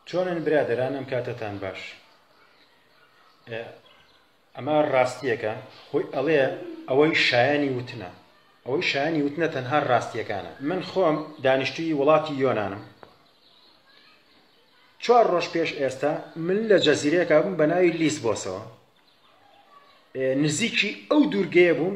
چۆنن برادەران ئەم کاتەتان باش ئەمە ڕاستیەکە خۆی ئەڵێ ئەوەی شایانی وتنە ئەوەی شایانی وتنە تەنها ڕاستیەکانە من خۆم دانیشتوی وڵاتی یۆنانم چوار ڕۆژ پێش ئێستا من لە جەزیرەیەکە بووم بە ناوی لیس بۆسەوە نزیکی ئەو دوورگەیە بووم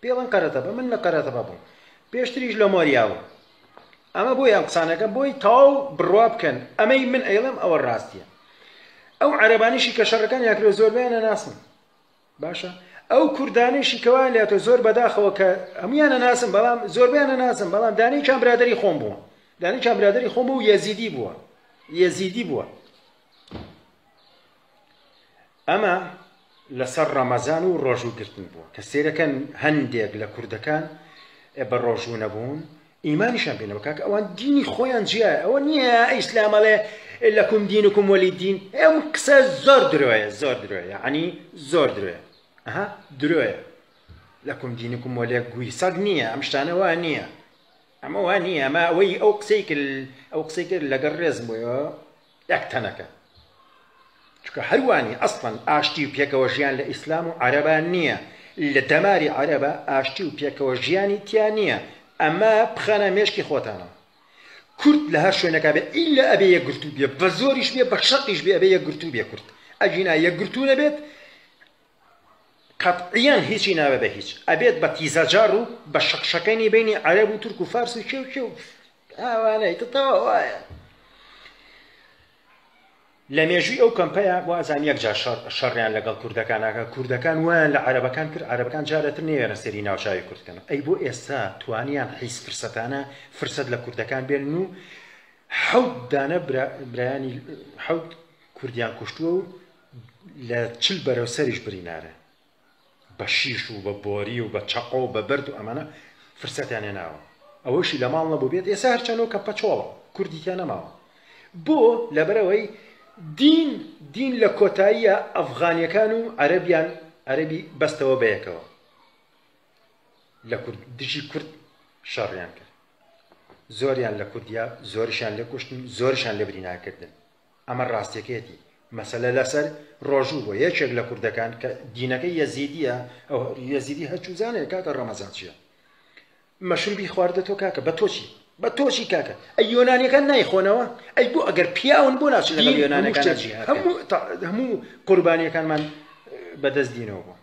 پێڵن قەرەتەپە من لە قەرەتەپە بووم پێشتریش لە مۆریا بووم ئەمە بۆی ئەم قسانەکە بۆی تاو بڕوا بکەن ئەمەی من ئەیڵێم ئەوە ڕاستیە ئەو عەربانیشی کە شەڕەکان یاکرێ زۆربیانە ناسم باشە ئەو کوردانیشی کەوان لە تۆ زۆر بەداخەوە کە هەمویانە ناسم بەڵام زۆربیانە ناسم بەڵام دانەی چان برادری خۆم بووە دانەی چان برادری خۆم بوو یەزیدی بووە یەزیدی بووە ئەمە لەسەر ڕەمەزان و ڕۆژوو گرتن بووە، کە سەیرەکەن هەندێک لە کوردەکان بە ڕۆژوو نەبوون ئیمانیشیان پێ نەبوو، کاکە ئەوان دینی خۆیان جیایە ئەوە نییە ئیسلام ئەڵێ لەکوم دینکم وەلی دین ئەم قسە زۆر درۆیە زۆر درۆیە یەعنی زۆر درۆیە ئەها درۆیە لەکوم دینکم وەلێ گوی سەگ نییە ئەم شتانە وا نییە ئەمە وا نییە ئەمە ئەوەی ئەو قسەی کرد ئەو قسەی کرد لەگەڵ ڕێزم بۆیەوە یەک تەنەکە چونکە هەروانی ئەسڵەن ئاشتی و پێکەوە ژیان لە ئیسلام و عەرەبا نییە لە دەماری عەرەبە ئاشتی و پێکەوە ژیانی تیا نییە ئەمە بخەنە مێشکی خۆتانەوە کورد لە هەر شوێنەکە بێ ئیلا ئەبێ یەکگرتوو بێ بە زۆریش بێ بە شەقیش بێ ئەبێ یەکگرتوو بێ کورد ئەگینا یەکگرتوو نەبێت قەتعیەن هیچی نابێ بە هیچ ئەبێت بە تیزەجار و بە شەقشەکەنی بینی عەرەب و تورک و فارس و کێو کێو ئاوانەی تەواو وایە لە مێژووی ئەو کەمپەیە بۆ ئازان یەک جار شەڕیان لەگەڵ کوردەکانەکە کوردەکان وایان لە عەرەبەکان کرد عەرەبەکان جارەتر نێوێرە سەری ناوچوی کوردکەن ئەی بۆ ئێستا توانیان حیز فرسەتانە فرسەت لە کوردەکان بێن و حەوت دانە برایانی حەوت کوردیان کوشتووە و لە چل بەرەو سەریش برینارە بە شیش و بە بۆری و بە چەقۆ و بە بەرد و ئەمانە فرسەتیان هێناوە ئەوەشی لە ماڵ نەبووبێت ئێستا هەرچەنۆ کە پەچۆڵە کوردی تیا نەماوە بۆ لەبەرەوەی دین دین لە کۆتاییە ئەفغانیەکان و عەرەبیان عەرەبی بەستەوە بەیەکەوە لە کورد دژی کورد شەڕیان کرد زۆریان لە کوردیا زۆرشیان لە کوشتن زۆرشان لە بریناکردن ئەمە ڕاستیەکەیەتی مەسەلە لەسەر ڕۆژوو بۆ یەکێک لە کوردەکان کە دینەکەی یەزیدیە ئەو یەزیدی هەرچوزانێ کاکە ڕەمەزان چیە مەشروبی خواردە تۆ کاکە بە تۆچی بە تۆچی کاکە ئەی یۆنانیەکان نایخۆنەوە ئەی بۆ ئەگەر پیاون بۆ ناچ لەگەڵ یۆنانەکان هەموو قوربانیەکانمان بەدەست دینەوە بوو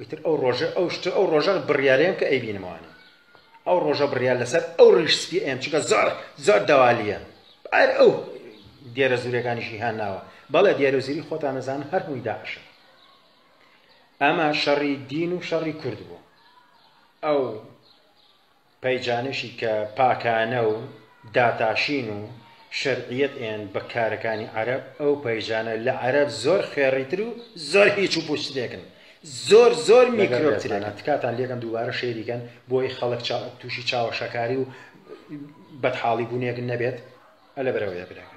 ئیتر ئەو ڕۆژە ئەو شتە ئەو ڕۆژە بڕیارەیەم کە ئەیبینمەوانێ ئەو ڕۆژە بڕیار لەسەر ئەو ڕیش سپی ئەم چونکە زۆر زۆر دەوالیە ئەر ئەو دیێرە زورەکانیشی هان ناوە بەڵێ دیێرە زوری خۆتان نەزان هەر هەمووی داعشە ئەمە شەڕی دین و شەڕی کرد بوو ئەو پەیجانشی کە پاکانە و داتاشین و شەرعیەت ئێن بە کارەکانی عەرەب، ئەو پەیجانە لە عەرەب زۆر خوێڕی تر و زۆر هیچ و پوچ ترێکن، زۆر زۆر میکرۆب ترێکن. تکاتان لێکەم دووبارە شەیری کەن بۆی خەڵک توشی چاوەشەکاری و بەدحاڵی بونێک نەبێت. ئەلە بەرەوەیە برا گیان.